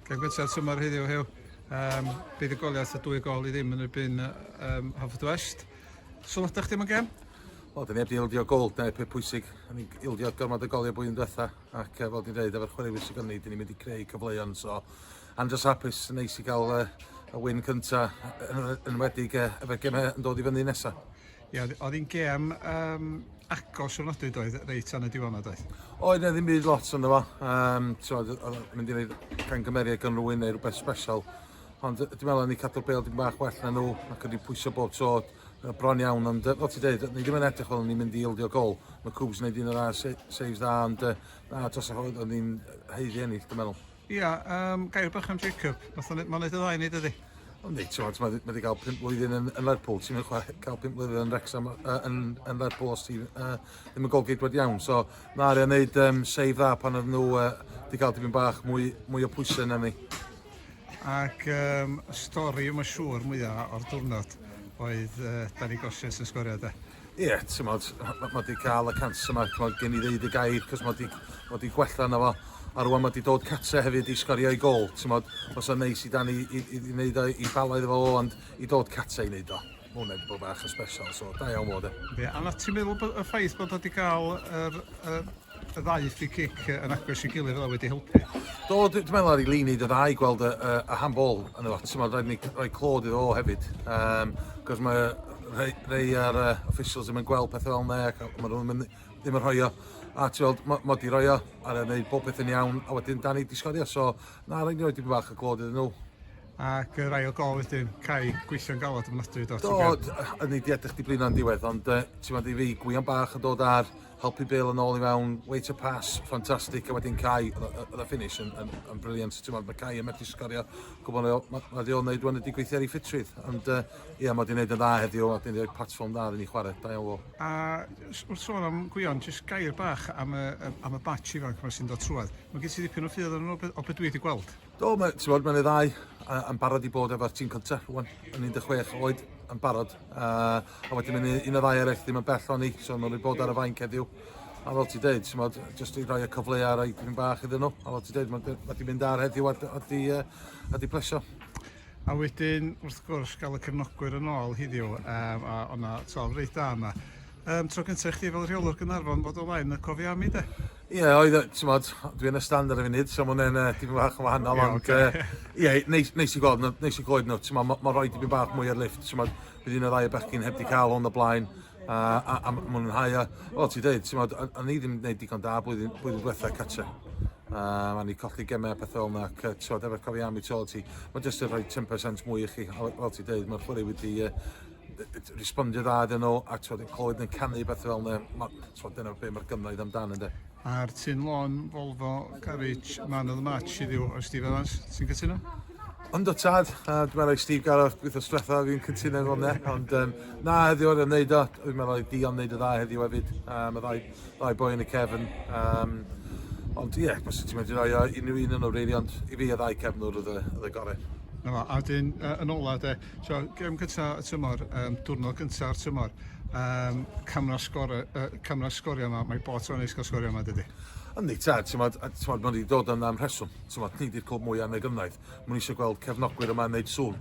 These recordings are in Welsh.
Gael gwybod symor heddiw hew. Um, bydd y goliath y dwy gol i ddim yn erbyn um, Hafod West. Sylwada chdi yma gem? O, dyn ni wedi ildio gol, dyna peth pwysig. Dyn ni ildio gormod o goliau bwy'n diwetha, ac fel dwi'n dweud, efo'r chwaraewyr sy'n gynnu, dyn ni'n mynd i creu cyfleoedd, so I'm just hapus, neis i gael uh, y wyn cynta yn, yn wedi uh, efo'r gemau yn dod i fyny nesaf. Ie, oedd oedd hi'n gêm um, agos o'r nodwyd oedd, reit tan y diwrnod oedd? Oedd e ddim byd lot ynddo fo. Um, oedd mynd i wneud cangymeriad gan rwy'n neu rhywbeth special. Ond dwi'n meddwl ni cadw'r bel dim bach well na nhw ac wedi pwysio bob tro bron iawn. Ond fel ti'n dweud, ni ddim yn edrych fel ni'n mynd i ildio gol. Mae Cwbs yn gwneud un o'r saves dda ond na, dros y hwyl, oedd ni'n heiddi ennill, dwi'n meddwl. Ia, um, gair bach am Jacob. Mae'n neud y ddau wneud ydi. Ond nid, ti'n mae wedi cael 5 blwyddyn yn, yn Lerpwl, ti'n mynd cael 5 blwyddyn yn Wrexham, uh, yn, yn Lerpwl os ti'n uh, ddim yn golgeidwad iawn. So, mae Arian wneud um, save dda pan oedd nhw uh, wedi cael dipyn bach mwy, mwy o pwysau na ni. Ac um, y stori yma siŵr mwyaf o'r diwrnod oedd uh, Danny Gosius yn sgorio da. Ie, t'mod, ma' ma' 'di ca'l y cancer 'ma, t'mod, gen i ddeud y gair, 'c'os ma' 'di ma' 'di gwella arno fo, a rŵan ma' 'di dod catre hefyd i sgorio'i gôl, t'mod, fysa'n neis i Danny i i i neud o i bala iddo fo o, ond i dod catre i neud o, ma' hwnna 'di bod bach yn sbesial, so da iawn fo de. Yndi, a na' ti'n meddwl bod y ffaith bod o 'di ga'l yr yy y ddau free kick yn agos i gilydd oedd wedi helpu. Do, dwi'n meddwl ar ei lini dy ddau gweld y, y, y handball yn y lot. Ti'n meddwl, ni rhoi clod iddo o hefyd. Um, Cos mae rhai, rhai ar uh, officials ddim yn gweld pethau fel yna ac maen nhw ddim, ddim yn rhoi o. A ti'n meddwl, mae mod i roi o a rhaid gwneud bob peth yn iawn a wedyn dan i disgorio. So, na, rhaid ni roi dipyn bach y clod iddyn nhw ac rai o gol wedyn cael gweithio'n galod yn ofnadwy do? Do, yn ei di edrych di blino'n diwedd, ond uh, ti'n meddwl i fi, gwion bach yn dod ar helpu Bill yn ôl i mewn, wait a pass, ffantastig, a wedyn Cai, oedd y finish yn, yn, yn briliant, ti'n meddwl, mae Cai yn methu sgorio, gwybod mae ma, ma ddiol wneud wnaud wedi gweithio ar ei ffitrwydd, ond ie, uh, yeah, mae wedi wneud yn dda heddiw, a wedi rhoi platform dda iddyn ni chwarae, da iawn fo. A wrth sôn am Gwion, jyst gair bach am y, am y batch ifanc yma sy'n dod trwad. Mae gen ti ddipyn o ffydd yn o, o beth dwi wedi gweld. Do, mae, ti'n bod, mae'n ei ddau yn barod i bod efo'r tîm cyntaf rwan, yn 16 oed yn barod. Uh, a wedyn mae'n un o ddau eraill ddim yn bell o'n i, so mae'n rhaid bod ar y fain ceddiw. A fel ti'n dweud, ti'n bod, jyst i roi y cyfle ar ei dyn bach iddyn nhw. A fel ti'n dweud, mae wedi mynd ar heddiw a wedi, uh, wedi plesio. A wedyn, wrth gwrs, gael y cefnogwyr yn ôl hiddiw, um, a o'na tof reit da yna. Um, tro gyntaf i chdi fel rheolwr Gynarfon fod o flaen y cofiami de? Ie, oedd, e, t'mod, dwi yn y stand ar y funud, so ma' hwnne'n yy, dipyn bach yn wahanol, Ie, ond yy, ocê. ie, neis, neis i gweld nhw, neis i clywed nhw, t'mod, ma' ma' rhoi dipyn bach mwy ar lift, t'mod, bydd un o'r ddau o bechgyn heb 'di cael hwn o blaen, a, a, a ma' nhw'n hau o. Fel ti'n deud, t'mod, o- o'n i ddim yn gwneud digon da blwyddyn, blwyddyn diwetha cartre. A ma' ni colli gemau a pethau fel yna, ac yy, t'mod, efo'r cofiami tu ôl ti, ma' jyst yn rhoi 10% mwy i chi, a fel ti'n deud, mae'r chwarae wedi yy, respondio dda iddyn nhw, a t'mod yn clywed yn canu beth fel yna, ma' t'mod dyna be' mae'r gynnoedd amdan ynde? A'r tin lôn Volvo Garage man of the match heddiw o Steve Evans, ti'n cytuno? Ond o tad, a dwi'n meddwl i Steve Gareth gweithio stretha fi'n cytuno efo hwnna, ond um, na heddiw oedd yn neud o, dwi'n meddwl i Dion neud y dda heddiw hefyd, um, y ddau, ddau boi yn y cefn. Um, ond ie, yeah, os ti'n mynd i roi o unrhyw un yn o'r reiri, ond i fi y ddau cefnwr oedd y, oedd y gorau. Na, a dyn, uh, yn ola de, So, gem gyntaf y tymor, um, diwrnod gyntaf o'r tymor, um, camera sgor, uh, camera sgorio yma, mae bot o'n eich cael sgorio yma, dydy? Yndi, ta, ti'n modd, mae wedi dod yn am rheswm, ti'n modd, ni di'r clwb mwyaf yn y gyfnaith, mwyn eisiau gweld cefnogwyr yma yn neud sŵn.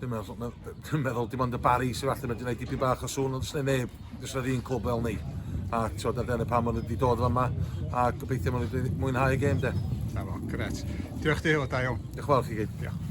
Dwi'n meddwl, dwi'n meddwl, dim ond y bari sy'n falle wedi gwneud dipyn bach o sŵn, ond dwi'n neb, dwi'n sy'n un clwb fel ni. A ti'n modd, dyna pam o'n wedi dod yma, a gobeithio mwyn wedi mwynhau y gêm, de. Na fo, gret. Diolch di, o da iawn. Diolch yn fawr chi gyd. Diolch.